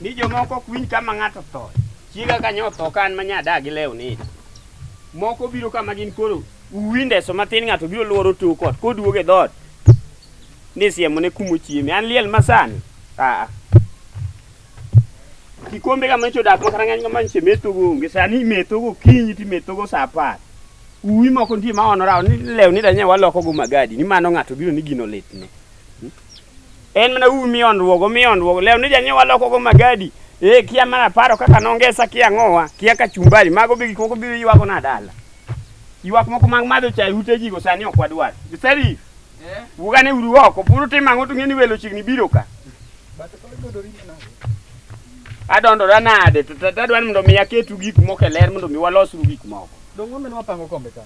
ni jomoko ok winj kama ng'ato tho chiega ka nyo tho ka an ma nyada gi lew ni moko biro kama gin koro uwindeso matin ng'ato biro lworo to kot koduog e dhoot ni siemo ne kumo chieme an liel masani aa kikombe kama ichodak makata ng'eny kama nche methogo onge sani imethogo kinyi timethogo sa apar Uwi moko nitie ma ono rawo ni lew ni danye waloko go magadi ni mano ng'ato biro ni gino litne. Hmm? En mana uwi mi onruogo mi onruogo lew ni danye waloko go magadi. Eh kia mana paro kaka nongesa kia ngowa kia kachumbari mago bigi koko biro ywago na dala. Ywak moko mag madho chai ute jigo sani ok wadwar. Giseri Eh? Ugane uru oko, puru tim ang'o to ng'eni welo chiegni biro ka. Adondora nade to tadwani mondo mi aketu gik moko e ler mondo mi walosru gik moko. Dongo meno wapango kombe ka.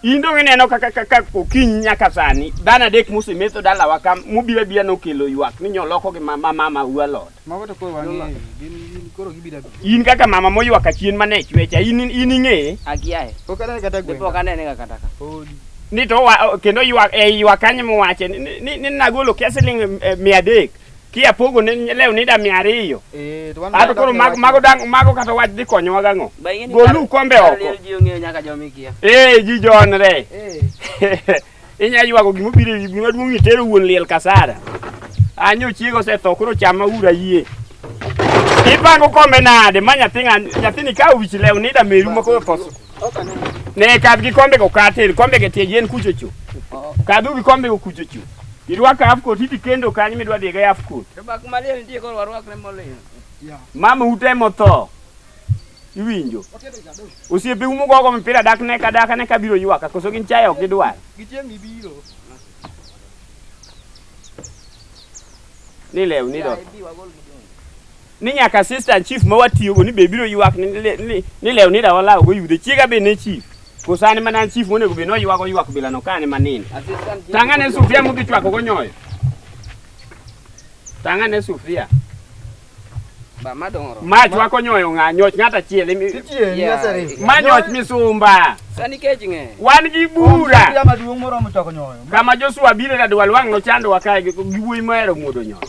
In dongo ineno kaka kaka okinyi nyaka sani dhano adek mosemetho dalawa ka mubiro abira nokelo ywak ni nyoloko gi mama mama ualot. Mago to koro wang'eyo. Gin gin koro gibira bi. In kaka mama moywa ka chien mane chwecha in in ing'e. Akiaye. Pok anene kata gweng'. Pok anene ga kata ka. Podi. Ni to wa, kendo ywa e ywa kanye mowache ni, ni, ni nagolo kia siling eh, mia adek. Kia pogo ne leo nida mia ariyo. Eh to wan. Ato koro mago mago dang mago kata wach dhi konyowa gang'o. Golu kombe oko. Ji ong'eyo nyaka jomikia. Eh ji jonre. Eh. inya ywago gima obiro e wi gima duong' ni tero wuon liel kasara anyo chiego osetho koro chama ura yie ipango kombe nade ma nyathi ng'a- nyathini ka owich lew nida meru ma koro koso ne kadh gi kombe go kater kombe ge tie yien kuchocho kadhu gi kombe go kuchocho irwako half coat idhi kendo kanyo midwa dhiga half coat Rwak maliel nitie koro warwakne moliel. mama ute motho Iwinjo? Osiepe umo gogo mpira dak ne ka dak ne ka biro ywaka koso gin chaye ok gidwar. Gichieng' ibiro. Ni lew ni do. Ni nyaka assistant chief ma watiyo go ni be biro ywak ni le- ni ni lew ni da walawo go yude chiega be ne chief. Koso an mana chief monego be no ywago ywak bila no kane manini. Tanga ne sufria mudhi chwako go nyoyo. Tanga ne sufria. Ba madongo oromo. Mach wako nyoyo ng'a nyoch ng'at achiel. imi- Titie ni Yeah. aseri. Ma nyoch misumba. Sani kech ng'e. Wan gi bura. Sufuria maduong' moromo choko nyoyo. Kama Joshua biro da dwal wang' nochando wakae gi gi wuoyi mahero muodo nyoyo.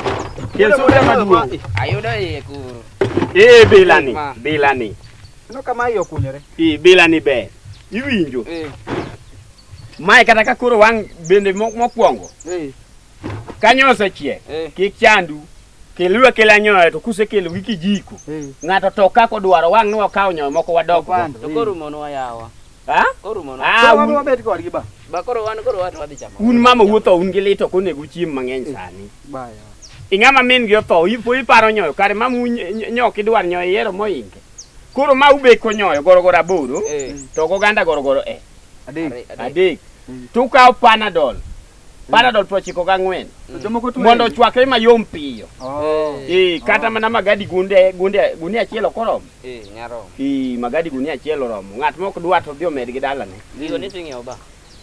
Kel sufuria maduong'. Ayudo iye kuro. Eh bilani, Ma. bilani. No kama iye okunyore. Eh bilani ber. Iwinjo. Eh. Mae kata ka koro wang' bende mo- mokwongo. Eh. Kanyo osechiek. Eh. Kik chandu. Keluru kela nyoyo to kusekelo gi kijiko. Eh. Ng'ato to kako dwaro wang' ni wakawo nyoyo moko wadok. Opando. To koro mono wayawa. Ha? Koro mono. Ah, Koro un- wabiro bet kodgi ba. Ba koro wan koro wat wadhi chamo. un mama wuotho un gi lit ok onego uchiem mang'eny sani. Baya. Ing'ama min gi otho ipo iparo nyoyo kare mama un- ny- nyok idwar nyoyo iero moinge. Koro ma ubeko nyoyo gorogoro aboro Eh. to oganda gorogoro eh Adek. Are- are. adek. Mm. To ukawo panadol Mm. panadol piero ochiko gang'wen mm. mondo ochwakre mayom piyo oh. eh, eh, kata oh. mana magadi gunde gunde gunia achiel ok oromo eh, eh magadi gunia achiel oromo ng'at mok dwa to dhi omed gi dalane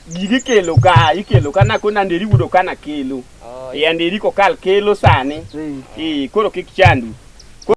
gigi kelo ka ikelo ka na kona nderi wudo kana kelo oh, e anderi kokal kelo sani e koro kik chandu